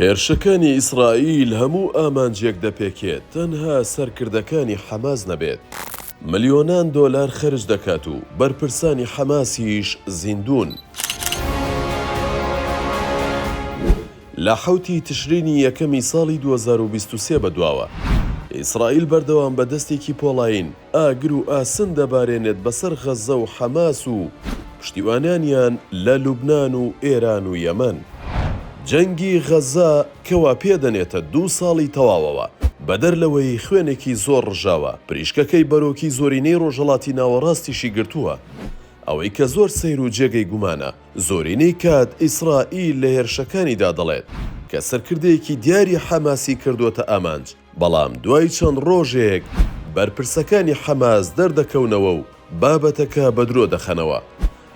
هێرشەکانی ئیسرائیل هەموو ئامانجێک دەپێکێت تەنها سەرکردەکانی حەماس نەبێت، ملیۆنان دۆلار خەرج دەکات و بەرپرسانی حەماسیش زیندوون. لە حەوت ی تشرینی یەکەمی ساڵی دوو هەزار و بیست و سێ بەدواوە، ئیسرائیل بەردەوام بە دەستێکی پۆڵایین، ئاگر و ئاسن دەبارێنێت بەسەر غەززە و حەماس و پشتیوانانیان لە لوبنان و ئێران و یەمەن. جەنگی غەززە کەوا پێدەنێتە دوو ساڵی تەواوەوە، بەدەر لەوەی خوێنێکی زۆر ڕژاوە، پریشکەکەی بەرۆکی زۆرینەی ڕۆژهەڵاتی ناوەڕاستیشی گرتووە. ئەوەی کە زۆر سەیر و جێگەی گومانە، زۆرینەی کات ئیسرائیل لە هێرشەکانیدا دەڵێت کە سەرکردەیەکی دیاری حەماسی کردووەتە ئامانج، بەڵام دوای چەند ڕۆژێک بەرپرسەکانی حەماس دەردەکەونەوە و بابەتەکە بە درۆ دەخەنەوە،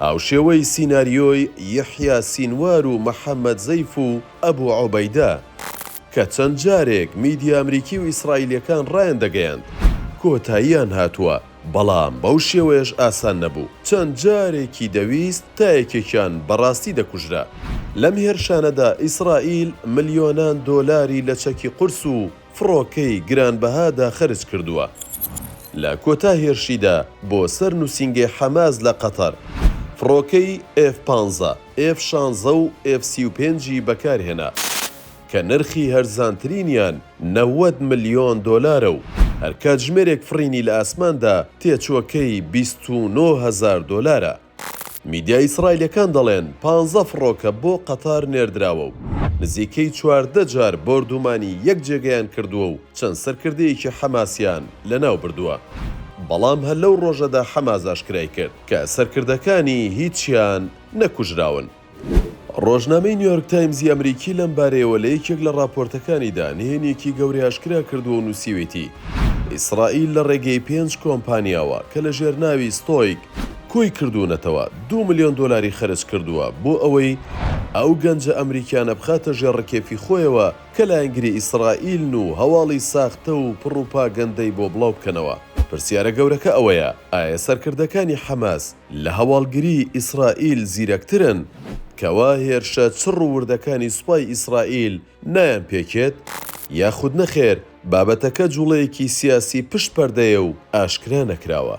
هاوشێوەی سیناریۆی یەحیا سینوار و محەمەد زەیف و ئەبو عوبەیدە، کە چەند جارێک میدیا ئەمریکی و ئیسرائیلییەکان ڕایاندەگەیاند کۆتاییان هاتووە. بەڵام بەو شێوەیەش ئاسان نەبوو، چەند جارێکی دەویست تا یەکێکیان بەڕاستی دەکوژرا. لەم هێرشانەدا ئیسرائیل ملیۆنان دۆلاری لە چەکی قورس و فڕۆکەی گرانبەهادا خەرج کردووە. لە کۆتا هێرشیدا بۆ سەر نووسینگەی حەماس لە قەتەر، فڕۆکەی ئێف پانزە، ئێف شانزە و ئێف سی و پێنج ی بەکارهێنا. کە نرخی هەرزانترینیان نەوەد ملیۆن دۆلارە و هەر کاتژمێرێک فڕینی لە ئاسماندا تێچووەکەی بیست و نۆ هەزار دۆلارە. میدیا ئیسرائیلییەکان دەڵێن پانزە فڕۆکە بۆ قەتار نێردراوە و نزیکەی چواردە جار بۆردوومانی یەک جێگەیان کردووە و چەند سەرکردەیەکی حەماسیان لەناو بردووە، بەڵام هەر لەو ڕۆژەدا حەماس ئاشکرای کرد کە سەرکردەکانی هیچیان نەکوژراون. ڕۆژنامەی نیۆرک تایمزی ئەمریکی لەم بارەیەوە لە یەکێک لە ڕاپۆرتەکانیدا نهێنییەکی گەورەی ئاشکرا کردووە و نووسیویەتی، ئیسرائیل لە ڕێگەی پێنج کۆمپانیاوە کە لە ژێر ناوی ستۆیک کۆی کردوونەتەوە، دوو ملیۆن دۆلاری خەرج کردووە بۆ ئەوەی ئەو گەنجە ئەمریکیانە بخاتە ژێر ڕکێفی خۆیەوە کە لایەنگری ئیسرائیلن و هەواڵی ساختە و پڕوپاگەندەی بۆ بڵاو بکەنەوە. پرسیارە گەورەکە ئەوەیە، ئایا سەرکردەکانی حەماس، لە هەواڵگری ئیسرائیل زیرەکترن، کەوا هێرشە چڕ و وردەکانی سوپای ئیسرائیل نایان پێکێت؟ یاخود نەخێر بابەتەکە جوڵەیەکی سیاسی پشت پەردەیە و ئاشکرا نەکراوە؟